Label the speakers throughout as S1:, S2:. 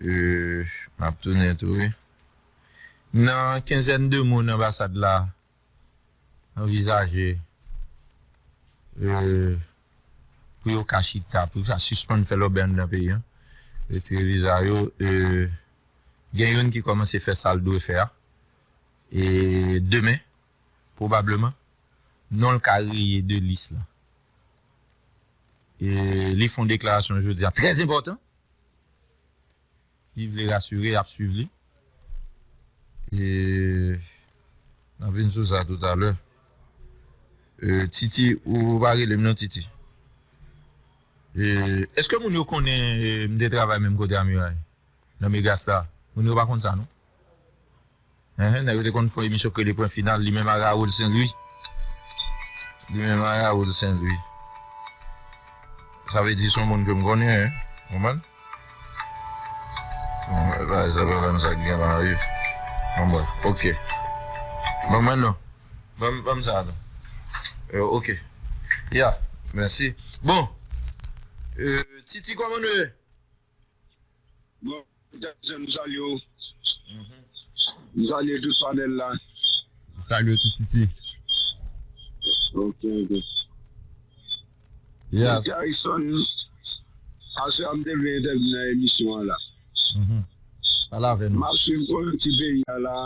S1: Euh map tounen tou wi. M nan kenzèn de moun anbasad la anvizaje euh pou yo ka chita pou yo ka sispann fè lòbèy anndan peyi an, retire viza yo euh gen youn ki kòmanse fè sal dwe fè a e demen. Pwobableman, non l ka reye de lis lan. Li fè yon deklarasyon jodi a trè enpòtan. Si vle rasire, y ap swiv li. N ap vin sou sa toutalè. Titi, ou pa rele m non Titi. Èske moun yo konnen m te travay menm kote Amiray? Nan Megastar? Moun yo pa konn sa non. Ehe nèg yo te konn fè emisyon k rele pwen final li menm ak Raoul Saint Louis li menm ak Raoul Saint Louis sa vle di son moun ke m konnen wi konprann bon bagay sa pa menm sa k gen la wi bon bref ok ban mwen non ban m sa non euh ok ya mèsi bon euh TT kòman nou ye.
S2: Bon bagay m salye w. M salye tout panel la. M salye w tou
S1: Titi.
S2: Ok ok. Bon
S1: Garrison
S2: aswè a m te vle entèvni nan emisyon an la.
S1: Pale avè nou. M ap swiv kò yon ti
S2: peyi a la.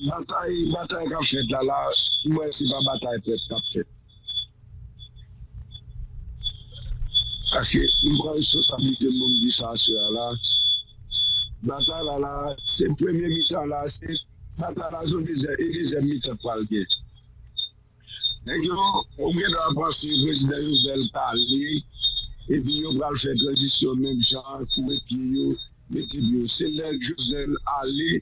S2: Batay batay k ap fèt la la m wè se pa batay pèp k ap fèt. Paske m pran responsablite m pou m di sa aswè a la, batay la la a, se premye mitan la a, se batay la sou dezyèm, e dezyèm mitan pral gen. Nèg yo, ou gen dwa panse prezidan Jovenel ka ale, epi yo pral fè tranzisyon menm jan, foure pye yo, mete pye yo. Se lè Jovenel ale.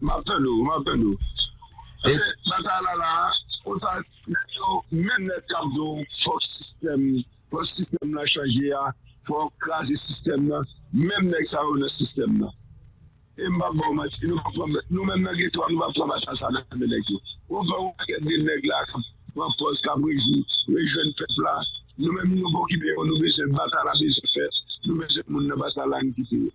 S1: Map
S2: tande w, map tande w. Pase batay la la a, konsa nèg yo menm nèt kap di w fòk sistèm, fòk sistèm lan chanje a, fòk kraze sistèm lan, menm nèg sa yo nan sistèm lan. E m pap ba w manti, nou pa pran, nou menm nan geto a nou pa pran batay sa nan men nèg yo. Ou pran yon pakèt de nèg la kap pran pòz, kap rejwi, rejwenn pèp la, nou menm nou pokipe yo, nou bezwen batay la bezwen fèt, nou bezwen moun nan batay la, nou kite yo.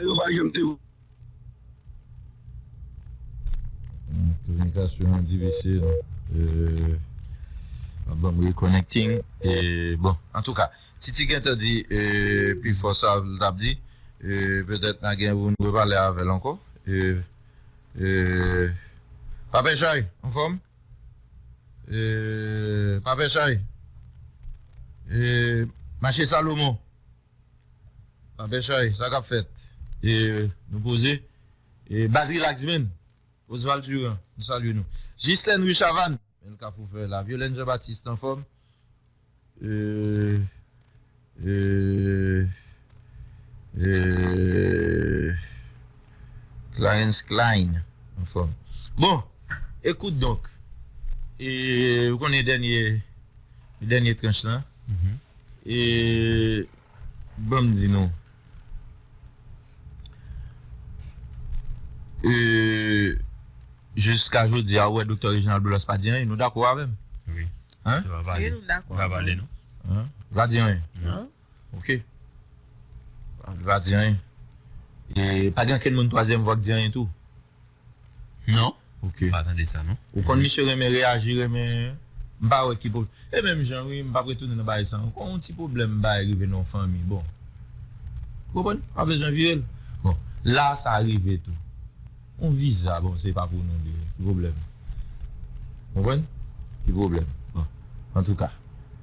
S2: Yo pa janm
S1: te. Kominikasyon an difisil ap banm reconnecting bon antouka Titi gentan di pifò sa li tap di petèt na gen pou nou repale avèl ankò Papè Chay anfòm Papè Chay Mache Salomon. Anpè chay sa kap fèt e nou poze e baz relax menn Osval Durand nou salye nou Jislèn rue Chavanne menn kafou fè la Violène Jean Baptiste anfòm e e e Clarens Klein anfòm bon ekout donk e ou konnen dènye dènye tranch lan. E ban m di nou. E jiska jodi a ou wè Doktè Reginald Boulos pa di anyen. Nou dakò avè m? Wi. Hein?
S3: Yo avale.
S1: Wi nou dakò. Yo
S3: avale nou. Hein? Li pa di anyen?
S1: Non. Ok. Li pa di anyen. E pa gen ankenn moun twazyèm vwa k di anyen tou? Non ok m pa tande sa non.
S3: Ou konn misye renmen
S1: reyaji renmen m pa wè ki pwob e menm jan wi m pap retounen nan bagay sa ankò yon ti pwoblèm bagay rive nan yon fanmi bon ou konprann pa bezwen vire l bon la sa rive tou yon viza bon se pa pou nou de ki pwoblèm ou konprann ki pwoblèm bon antouka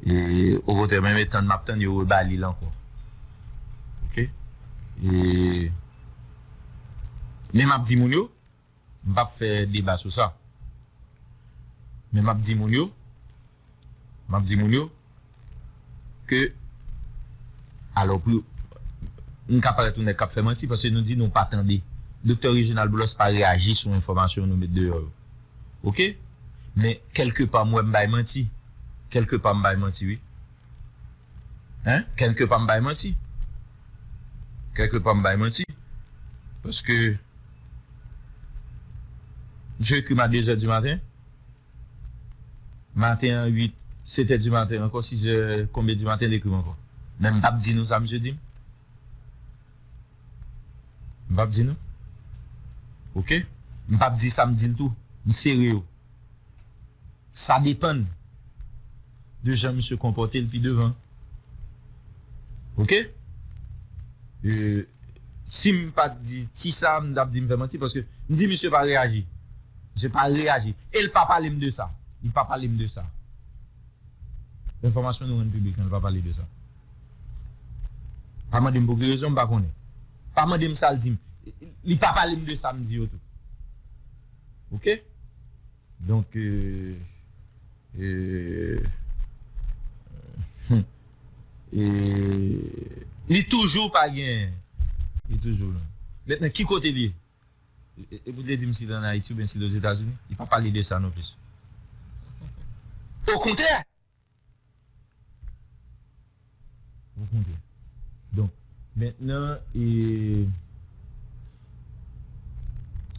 S1: e okontrè menm etann map tann yo rebali l ankò ok e. Men map di moun yo, m pap fè deba sou sa. Men map di moun yo, map di moun yo ke alò pou yo m ka parèt yon nèg kap fè manti paske nou di nou pa tande. Doktè Reginald Boulos pa reyaji sou enfòmasyon nou met deyò yo. Ok? Men kèlke pa m wè m bay manti. Kèlke pa m bay manti wi. Hein kèlke pa m bay manti kèlke pa m bay manti paske msye ekri m a 2 zè di maten maten an 8 7 è di maten ankò 6 è konbyen di maten l ekri m ankò men m pap di nou sa msye di m m pap di nou ok m pap di sa m di l tou m sere yo. Sa depan de jan misye konpòte l pi devan. Ok. Si m pa t di ti sa, m t ap di m fè manti paske m di misye pa reyaji. Misye pa reyaji. E l pa pale m de sa. Li pa pale m de sa. Enfòmasyon nou rann piblik lan, li pa pale de sa. Pa mande m pou ki rezon, m pa konnen. Pa mande m sa l di m. Li pa pale m de sa m di yo tou. Ok donk li toujou pa gen li toujou men nan ki kote li ye e pou te dim si li an ayiti oubyen si li ozetazini li pa pale de sa non plis okontrè.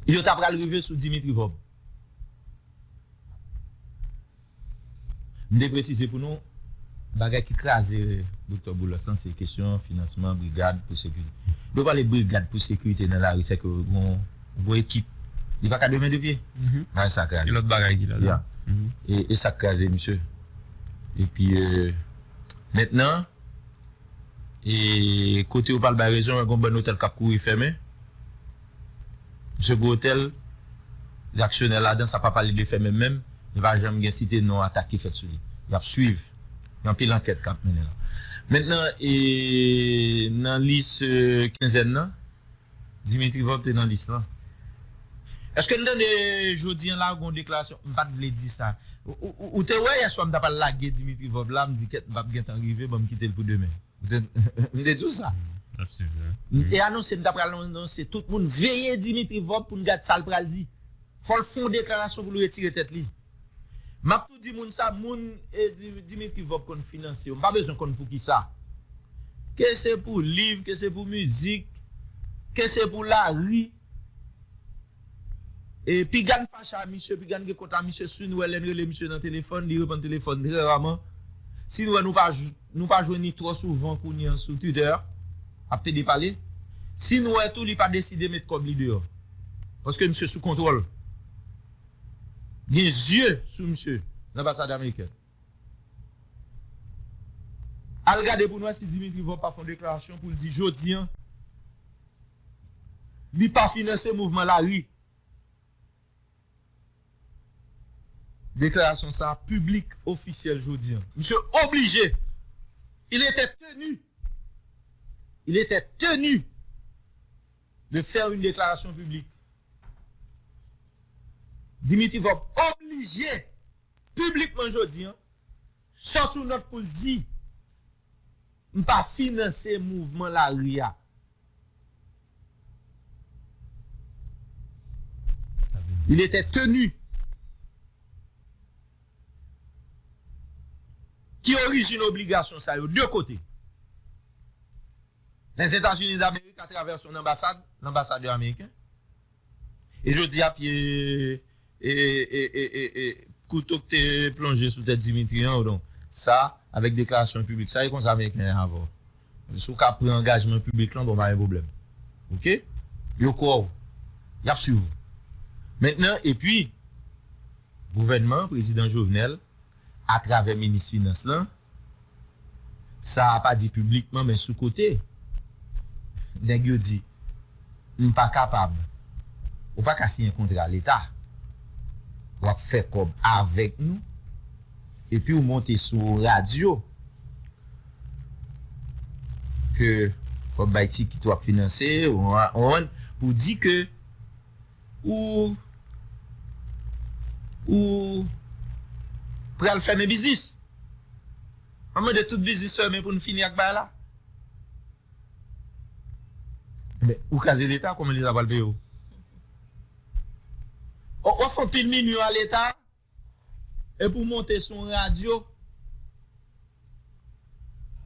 S1: Yo ta pral rive sou Dimitri Vorbe. M te presize pou nou, bagay ki kraze Doktè Boulos lan se kesyon finansman brigad pou sekirite. Lè w pale brigad pou sekirite nan lari, sèke w. Bon ekip. Li paka de men de pye? Bagay sa kraze. Gen lòt bagay ki la
S3: dan.
S1: Ya. E sa k kraze misye. Epi mentnan e kote yo pral bay rezon gen yon bann otèl k ap kouri fèmen. Misye gwo otèl li aksyonè ladan sa pa pale de fèmen menm. Li pa janm gen site non atak ki fèt sou li. Y ap swiv. Gen anpil ankèt k ap mennen la. Mentnan e nan lis kenzèn nan. Dimitri Vorbe te nan lis lan. Eske n tande jodi an la gon deklarasyon m pat vle di sa. Ou te wè yèswa m ta pral lage Dimitri Vorbe la m di kèt m pap gen tan rive banm kite l pou demen. M te di w sa. M te anonse m ta pral anonse tout moun veye Dimitri Vorbe pou n gad sa l pral di. Fò l fon deklarasyon pou l retire tèt li. Map tou di moun sa moun Dimitri Vorb konn finanse yo mpa bezwen konn poukisa ke se pou liv ke se pou mizik ke se pou lari e pigann fache a misye pigann gen kont a misye si nou wè lèn rele misye nan telefòn li reponn telefòn trè raman si nou wè nou pa jwenn li trò souvan kounya sou Twitter ap pede pale si nou wè tou li pa deside met kòb li deyò paske misye sou kontwòl. Gen zye sou misye lanbasad amerikèn. Al gade pou n wè si Dimitri Vorb pa fè yon deklarasyon pou l di jodi an li pa finanse mouvman lari. Deklarasyon sa a piblik, ofisyèl jodi an. Misye oblije, il etè teni, il etè teni! de faire une déclaration publique Dimitri Vorbe oblije piblikman jodi an sòti yon nòt pou l di m pa finanse mouvman lari a. Il était tenu Ki orijin obligasyon sa yo? 2 kote. Lèzetazini Damerik atravè son anbasad, lanbasadè ameriken, e jodi a pye e e e e e kouto k te plonje sou tèt Dimitri an, odon sa avèk deklarasyon piblik sa e konsa ameriken ye avè w. Si w ka pran angajman piblik lan bon pa gen pwoblèm. Ok? Yo kwè w. Y ap swiv w. Mentnan epi gouvènman prezidan Jovenel atravè minis finans lan, Sa a pa di piblikman men sou kote. Nèg yo di, M pa kapab. Ou pa ka siyen kontra leta. W ap fè kòb avèk nou. Epi w monte sou yon radyo ke w ap bay tikit, w ap finanse, ou konprann, pou w di ke Ou Ou pral fèmen biznis. Map mande tout biznis fèmen poun fini ak bagay la. Ebyen ou kraze leta kòman leta pral peyew. Wap fè anpil minwi a leta. Epi w monte sou yon radyo,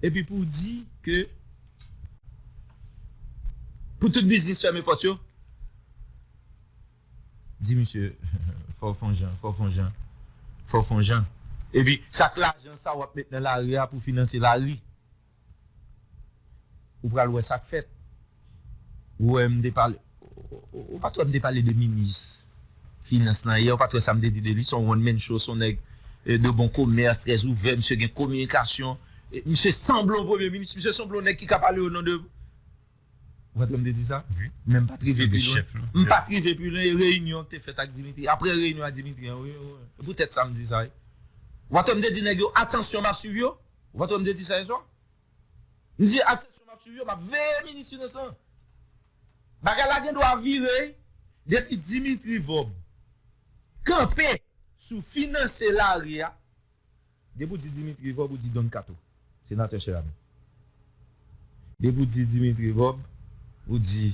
S1: epi pou w di ke pou tout biznis fèmen pòt yo, di misye fò w fon jan, fò w fon jan, fò w fon jan. Epi sa k lajan sa w ap met nan lari a pou w finanse lari? Ou pral wè sak fèt. Ou wè m te pale Ou pat wè m te pale de minis finans lan yè ou pat wè sa m te di de li son one man show son nèg de bon komès trè ouvè misye gen kominikasyon misye sanble yon premye minis misye sanble yon nèg ki ka pale o non de Ou pat wè m te di sa men m pat rive pi lwen m pat rive pi lwen e reyinyon ki te fèt ak Dimitri aprè reyinyon a Dimitri an wi e pou tèt sa m di sa wi Ou pat wè m te di nèg yo atansyon m ap swiv yo. Ou pa tande m te di sa yè swa? M di ak tèt m ap swiv yo, m ap veye minis finans lan. Bagay la gen dwa vire depi Dimitri Vorb kanpe sou finanse lari a, depi w di Dimitri Vorb ou di Don Kato, Senatè Cheramy. Depi w di Dimitri Vorb, ou di.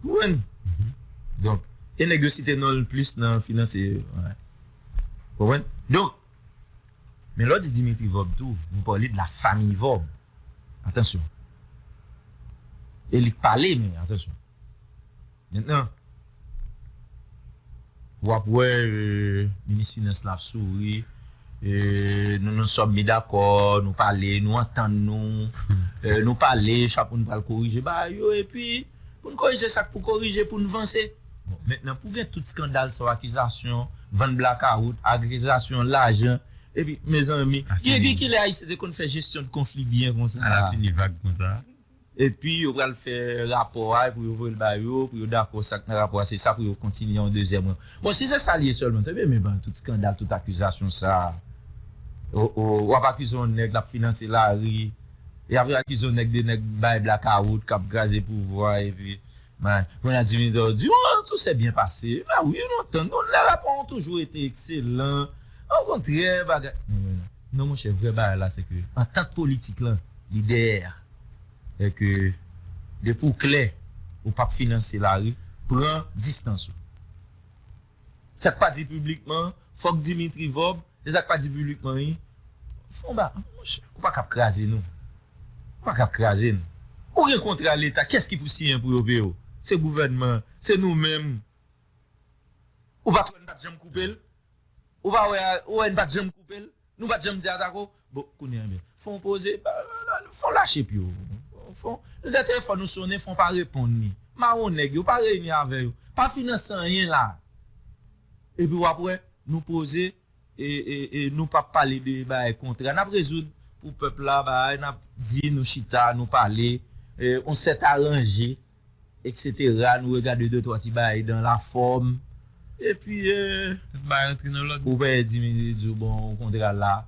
S1: Konprann? Donk, e nèg yo site non l plis nan finansye yo. Konprann? Donk, men lè w di Dimitri Vorb tou, vou parlez de la famille Vorb. Atansyon. E li k pale men, atansyon. Mentnan w ap wè minis finans la ap souri, nou nou sòm mi dakò, nou pale, nou antann nou, nou pale, chak moun pral korije bagay yo epi pou n korije sa k pou korije pou n vanse. Bon, mentnan pou gen tout skandal sa w akizasyon vann blakawout, akizasyon lajan epi mezanmi depi kilè Ayisyen te konn fè jesyon de konfli byen konsa? Ala fini vag konsa.
S3: Epi yo
S1: pral fè rapò a pou yo voye l ba yo, pou yo dakò sa k nan rapò a, se sa pou yo kontinye yon dezyèm ran. Bon, si se sa l ye sèlman, te benmen ban tout skandal, tout akizasyon sa a. O o, w ap akize yon nèg l ap finanse lari, y ap akize yon nèg de nèg bay blakawout k ap kraze pouvwa epi may. Kounye a Dimitri ap di, o o, tou sè byen pase. Ba wi, lontan, lè rapò an toujou rete ekselan, okontrè bagay. Non monchè vrè bagay la se ke antant politik lan li dèyè a. E ke depi w klè ou pap finanse lari, pran distans ou. Sa k pa di piblikman, fòk Dimitri Vorbe, e sa k pa di piblikman wi, fon ba non monchè. Ou pa kab kraze nou. Ou pa kab kraze nou. Ou gen kontra leta, kiyès ki pou siyen pou yo peye w? Se gouvènman, se nou menm. Ou pa t wè n pa t janm koupe l? Ou pa wè a, ou wè n pa t janm koupe l? Nou pa t janm di atako? Bon, kounye a ebyen, fon poze, fon lache pye w. Fon, nou gen telefòn nou sonnen, fon pa reponn li. Mawon nèg yo, pa reyini avè yo. Pa finanse anyen la a. Epi w ap wè, nou poze, e, e, e nou p ap pale de bagay kontra. N ap rezoud pou pèp la bagay, n ap di, nou chita, nou pale, e, on sèt aranje. Etc nou regade de twa ti bagay dan la fòm epi tout bagay rantre nan lòd. Ou peye dimi li diw bon ou kontra la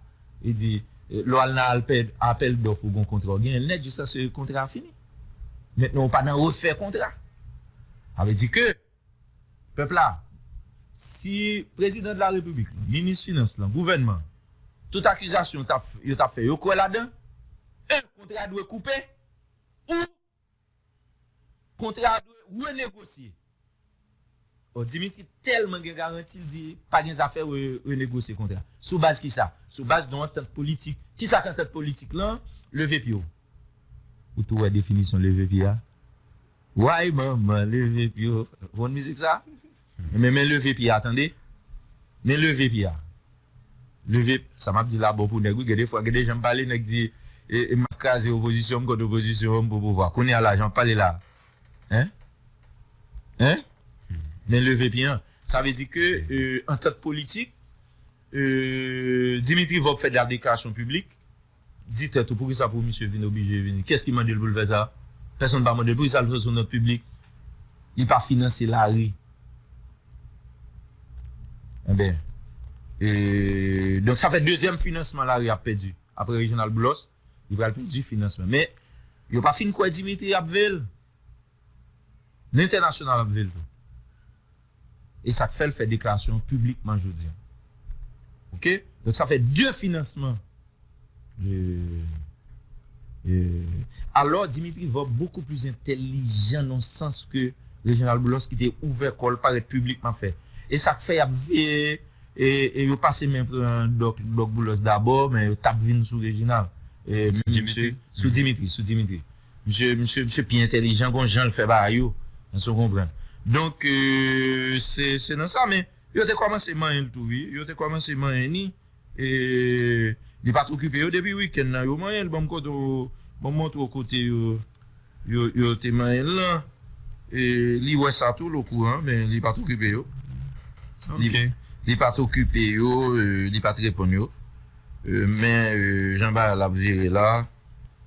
S1: li di lè wal nan apèl dòf ou gon kontra ou genyen nèt jiskaske kontra a fini mentnan ou pa nan refè kontra sa vle di ke pèp la si prezidan de la repiblik lan minis finans lan gouvènman tout akizasyon yo tap fè yo kwè ladan 1 kontra dwe koupe ou Kontra a dwe renegosye. Bon Dimitri tèlman gen garanti l di pa gen zafè renegosye kontra. Sou baz kisa? Sou baz yon antant politik. Kisa k antant politik lan? Leve pye w. Ou tou wè definisyon leve pye a? Woy manman leve pye w. Ou konn mizik sa? Enben men leve pye a tande. Men leve pye a. Leve sa map di la bon pou nèg wi gen de fwa gen de janm pale nèg di e map kraze opozisyon m kont opozisyon an m pou pouvwa kounya la jan wap pale la hein hein men leve pyen an sa vle di ke antant politik Dimitri vorbe fè de la deklarasyon piblik. Di tèt ou poukisa pou misye vin oblije vini? Kiyès ki mande l pou l fè sa? Pèsonn pa mande l. Poukisa l fè l sou nòt piblik? Li pa finanse lari. Enben, e, donk sa fè dezyèm finansman lari a ap pèdi. Aprè Reginald Boulos, li pral pèdi finansman. Men, yo pa fin kwè Dimitri ap veye l. Lentènasyonal ap ve l tou. E sa k fè l fè deklarasyon an piblikman jodi an. Oke. Donk sa fè 2 finansman. Alò Dimitri Vorb bokou plis entèlijan nan yon sans ke Reginald Boulos ki te ouvè kò l parèt piblikman fè. E sa k fè y ap veye e yo pase men pran Dòk Boulos dabò men yo t ap vin sou Reginald. Sou Dimitri. Sou Dimitri. Misye misye misye pi entèlijan gon janl fè bagay yo èske w konprann donk se se nan sa men yo te kòmanse manyen l tou wi yo te kòmanse manyen ni e li pat okipe yo depi wikenn nan yo manyen l banm kote w banm montre w kote yo yo yo te manyen l lan e li wè sa tou l okouran men li pat okipe yo li li pat okipe yo li pat reponn yo men jan bagay la ap vire la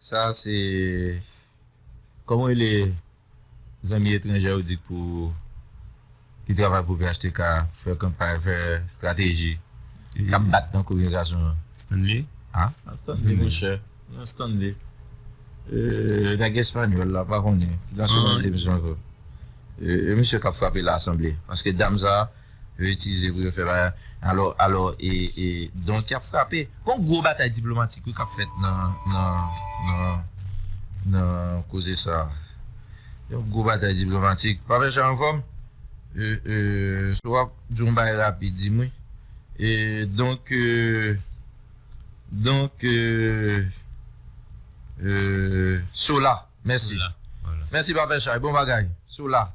S1: Sa a se Kòman w rele zanmi etranjè ou di k pou ki travay pou phtk a fè kanpay fè strateji k ap bat nan kominikasyon an? Stanley? A?
S4: A Stanley
S1: monchè. Non Stanley. E nèg espanyòl la m pa konnen ki nasyonalite misye ankò. E misye k ap frape lasanble paske dam sa a Yo itilize pou yo fè bagay. Alò, alò e, e donk y ap frape. Gon gwo batay diplomatik wi k ap fèt nan, nan, nan, nan koze sa a. Yon gwo batay diplomatik. Papa Jan anfòm? E, e, si w ap di yon bagay rapid di m wi. E donk, e, donk e, e, sou la. Mèsi. Sou la. Mèsi
S4: Papa Chay. Bon
S1: bagay. Sou la.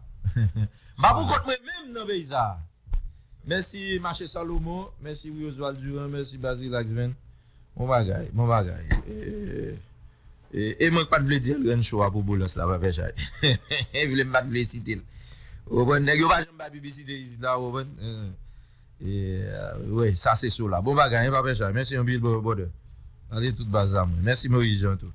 S1: Mpa pou kont mwen menm nan peyi sa. Mèsi Mache Salomon, mèsi wi Oswald Durand, mèsi Baz Relax Band. Bon bagay, bon bagay. E mwen k pat vle di Elrène Show a pou Boulos la pa fè chay. Vle m pat vle site l. Ou konprann, nèg yo pa janm bay piblisite isit la ou konprann. Eeh wi sa se sola. Bon bagay hein papa chay. Mèsi anpil brother. Gade tout baz la mwen. Mèsi Moise Jean tou.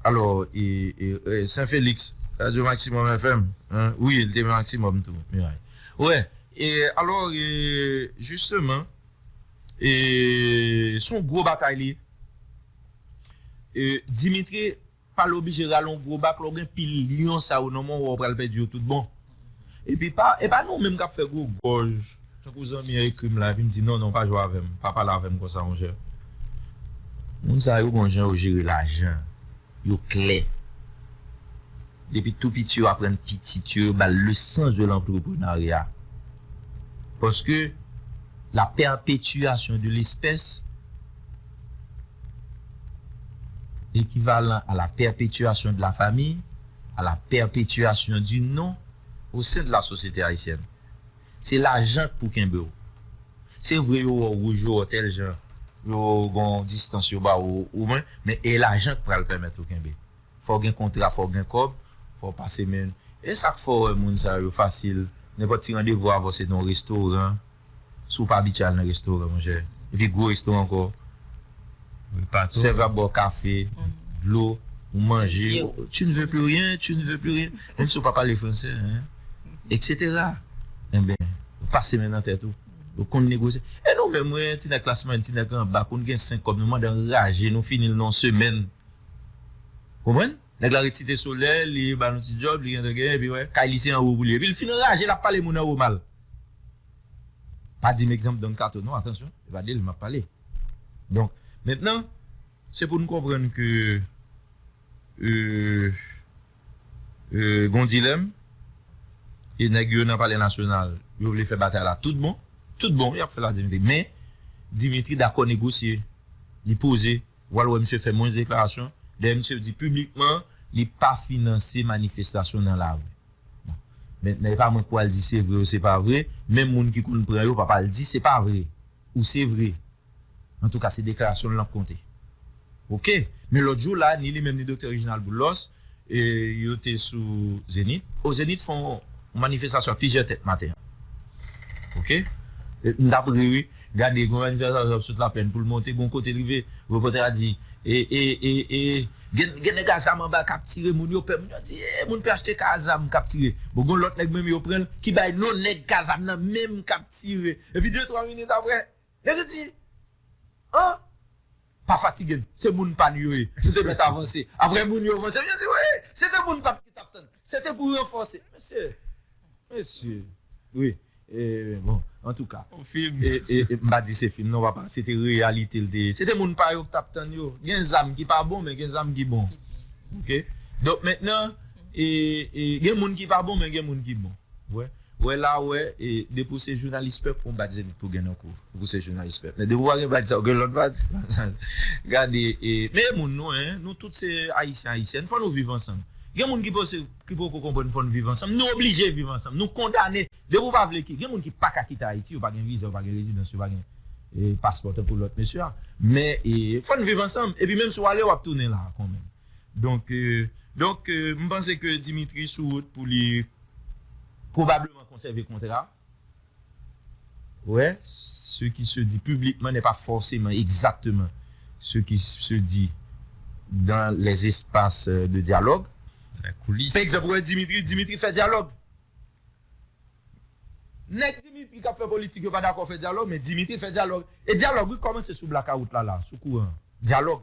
S1: Alò ee Saint Felix Radio Maximum FM hein wi li te Maximum tou. Miray. Wè e alò e jisteman e son gwo batay li ye. E Dimitri. Pale oblije rale yon gwo bak lè w gen pil lyon sa yo nan men w wè w pral pèdi yo tout bon. Epi pa e pa nou menm k ap fè gwo gòj tankou zanmi an ekri m la epi m di non non pa jwe avè m pa pale avè m konsa monchè. Moun sa yo gon jan yo jere lajan yo klè depi tou piti yo aprann pitit yo yo ba l lesans de lantreprenarya paske la pèpetiyasyon de lespès. L'équivalent à la perpétuation de la famille, à la perpétuation du nom au sein de la société haïtienne. Se lajan k pou kenbe w. Se vre yo wè w wouj yo wè w tèl jan, yo gon distans yo ba w ou mwen, men e lajan k pral pèmèt ou kenbe. Fò w gen kontra, fò w gen kòb, fò w pase men. E sa k fè w wè moun sa yo fasil, nenpòt ti randevou avè w se nan w restoran, Si w pa abitye al nan restoran monchè, epi gwo restoran ankò, sèf la ap ba w kafe, dlo, ou manje, tu ne veux plus rien, tu ne veux plus rien, menm si w pa pale fransè, eksetera. Enben, ou pase men nan tèt ou, ou konn negosye. E nou menm wi, ti nèg klas mwayèn, ti nèg anba, konn gen senk kòb, nou mande anraje, nou fini l nan yon semèn. Konprann? Nèg la ret site solèy li ba nou ti djòb li gentan gen epi wè kay li se anwo pou li epil fin anraje lap pale moun anwo mal pa dim egzanp Don Kato non atansyon se pa del map pale donk mentnan se pou nou konprann ke gon dilèm e nèg yo nan palè nasyonal yo vle fè batay la tout bon tout bon yap fèl a Dimitri men Dimitri dakò negosye li poze W al wè misye fè mwens deklarasyon dèyè misye di piblikman li pa finanse manifestasyon nan lari. Bon, mentnan e pa mwen k pou al di se vre ou se pa vre, menm moun ki konn pran yo p ap al di se pa vre ou se vre. Antouka se deklarasyon l nan k konte. Ok, men lòt jou la ni li menm ni Doktè Reginald Boulos, Yo te sou Zenith. O Zenith fon manifestasyon ak plizyè tèt maten an. Ok. M tap ri wi, gade gon manifestasyon ap sot laplèn poul monte gon kote l rive repòtè a di e e e e gen nèg a zam anba kap tire moun yo pè moun yo di e moun phtk a zam kap tire bon gon lòt nèg menm yo pranl ki bay non nèg ka zam nan menm kap tire epi de twa minit aprè Nèg yo di an. Pa fatige n, se moun pa nou yo ye. Nou te mèt avanse. Aprè moun yo vanse, yo di wi, se te moun pa nou ki t ap tann. Se te pou ranfòse. Mesye, mesye. Wi, e bon, antouka. On film. E m pa di se film non papa, se te reyalite l te ye. Se te moun pa yo k t ap tann yo. Gen zam ki pa bon men gen zam ki bon. Ok? Donk mentnan, e gen moun ki pa bon men gen moun ki bon. Ou wè? Wè la ou wè e depi ou se jounalis pèp ou bat zenit pou gen nan kou ou pou se jounalis pèp men depi ou pa gen badj sa ou gen lòt badj gade e meye moun nou en nou tout se ayisyen ayisyèn fò nou viv ansanm gen moun ki pose ki poko konprann fò nou viv ansanm nou oblije viv ansanm nou kondane depi ou pa vle ki gen moun ki paka kite ayiti yo pa gen viza yo pa gen rezidans yo pa gen e paspò tankou lòt mesye a men e fò nou viv ansanm epi menm si ou ale wap tounen la kon menm donk donk m panse ke dimitri sou wout pou li. pwobableman konsève kontra a. Wè, se ki se di piblikman nè pa fòseman egzakteman se ki se di dan lèzespas de dyalòg.
S4: Pè egzanp, wè Dimitri,
S1: Dimitri fè dyalòg. Nèg Dimitri k ap fè politik yo pa dakò fè dyalòg, men Dimitri fè dyalòg. E dyalòg wi kòmanse sou blakawout la la, sou kouran an. Dyalòg.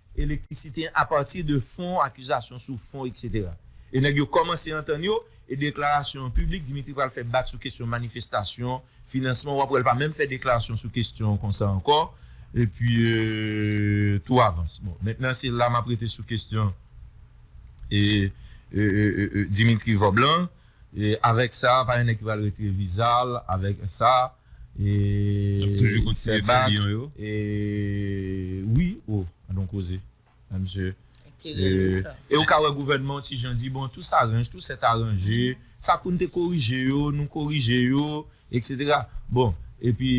S1: elektrisite apati de fon akizasyon sou fon etc. E nèg yo kòmanse antann yo e deklarasyon an piblik Dimitri pral fè bak sou kesyon manifestasyon, finansman wap wèl pa menm fè deklarasyon sou kesyon konsa ankò epi tou avans bon mentnan se la map rete sou kesyon Dimitri Vob lan avèk sa pa gen nèg ki pral retire vizal avèk sa. Nap toujou kontinye fè
S4: lion yo.
S1: Wi oh an don koze a misye e ou ka wè gouvènman yon ti jan di bon tou saranj tou sèt aranje sa poun te korije yo nou korije yo etc bon epi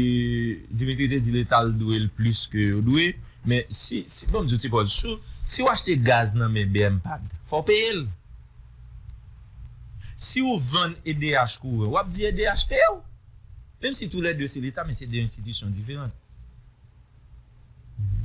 S1: Dimitri te di leta l dwe l plis ke yo dwe men si si bon m di w ti pòz sou si w achte gaz nan men bmpad fò w peye l si w vann edh kouran wap di edh peye w. Menm si tou lè 2 se leta men se 2 enstitisyon diferant.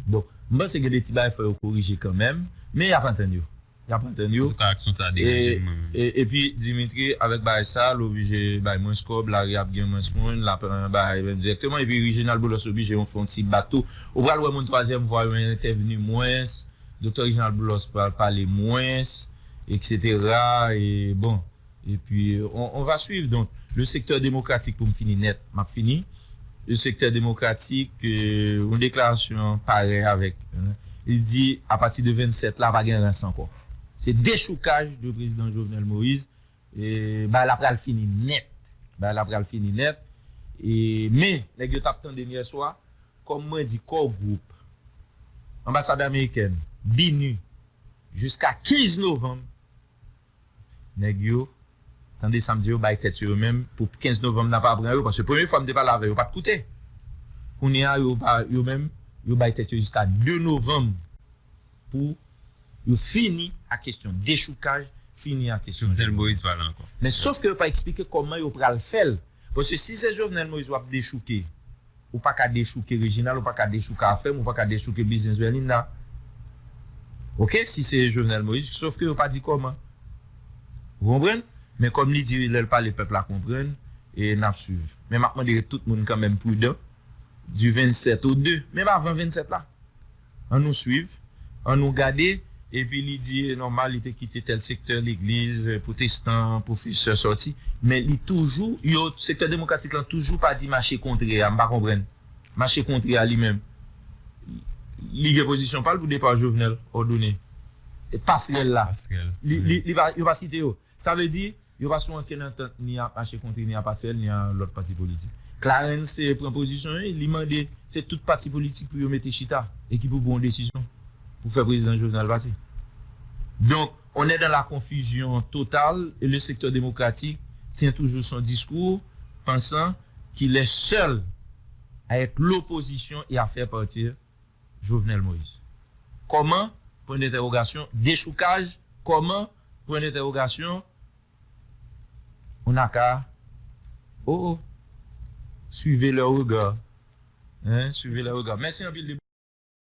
S1: Bon, m panse gen de ti bagay fò yo korije kanmenm, men y ap antann yo. Y ap antann yo. Antouka
S4: aksyon sa a deranje m mwen menm. E pi
S1: Dimitri avèk bagay sa a l oblije bay mwens kòb, lari a ap gen mwens moun, l ap bay menm dirèkteman. E pi Reginald Boulos oblije yon fè yon ti bak tou. Ou pral wè moun twazyèm vwa yo entèvni mwens, Doktè Reginald Boulos pral pale mwens, eksetera. E bon. E pi on va suiv donk le sektè demokratik pou m fini nèt m ap fini le sektè demokratik yon deklarasyon pare avèk li di apati de 27 la pa gen rans ankò se dechoukaj de prezidan Jovenel Moïse e bagay la pral fini nèt bagay la pral fini nèt e men nèg yo t ap tande m yè swa kòm mwen di Core Group anbasad amerikèn BINUH jiska 15 novanm. Nèg yo, tande sa m di yo bay tèt yo yo menm pou 15 novanm nan pa pran yo paske premye fwa m te pale avè yo pat koute. Kounye a yo pa yo menm yo bay tèt yo jiska 2 novanm pou yo fini ak kesyon dechoukaj, fini ak kesyon Jovenel Moïse pale ankò.
S4: Men sof ke yo pa eksplike
S1: kòman yo pral fè l. Paske si se Jovenel Moïse wap dechouke, ou pa ka dechouke Reginald, ou pa ka dechouke Afèm, ou pa ka dechouke Biznis Berlinda. Ok, si se Jovenel Moïse, sof ke yo pa di kòman. Ou konprann? Men kòm li di lè l pale pèp la konprann, e nap swiv. Men map mande tout moun kanmenm prudan, du 27 au 2, menm avan 27 la. An nou swiv, an nou gade. Epi li di e nòmal li te kite tèl sektè legliz pwotestan, pwofesè sòti. Men li toujou, yo, sektè demokratik lan toujou pa di mache kontre a. M pa konprann. Mache kontre a li menm. Li gen pozisyon pa l pou depa Jovenel òdone. Pasrèl la. Pasrèl. Li, li, li pa, yo pa site yo. Sa vle di, yo pa sou ankenn antant ni ap mache kontre ni ap aswèl ni a lòt pati politik. Clarens pran pozisyon l, li mande se tout pati politik pou yo mete chita e ki pou pran yon desizyon pou fè prezidan Jovenel pati. Donk, on è dan la konfizyon total e le sektè demokratik tyen toujou son diskou pansan kil è sèl avèk lopozisyon e a fè partir Jovenel Moïse. Kòman? Pwen dentèwogasyon, dechoukaj, kòman? Pwen dentèwogasyon On a ka Oh oh Suivez leur regard Hein Suivez leur regard Mèsi anpil depi.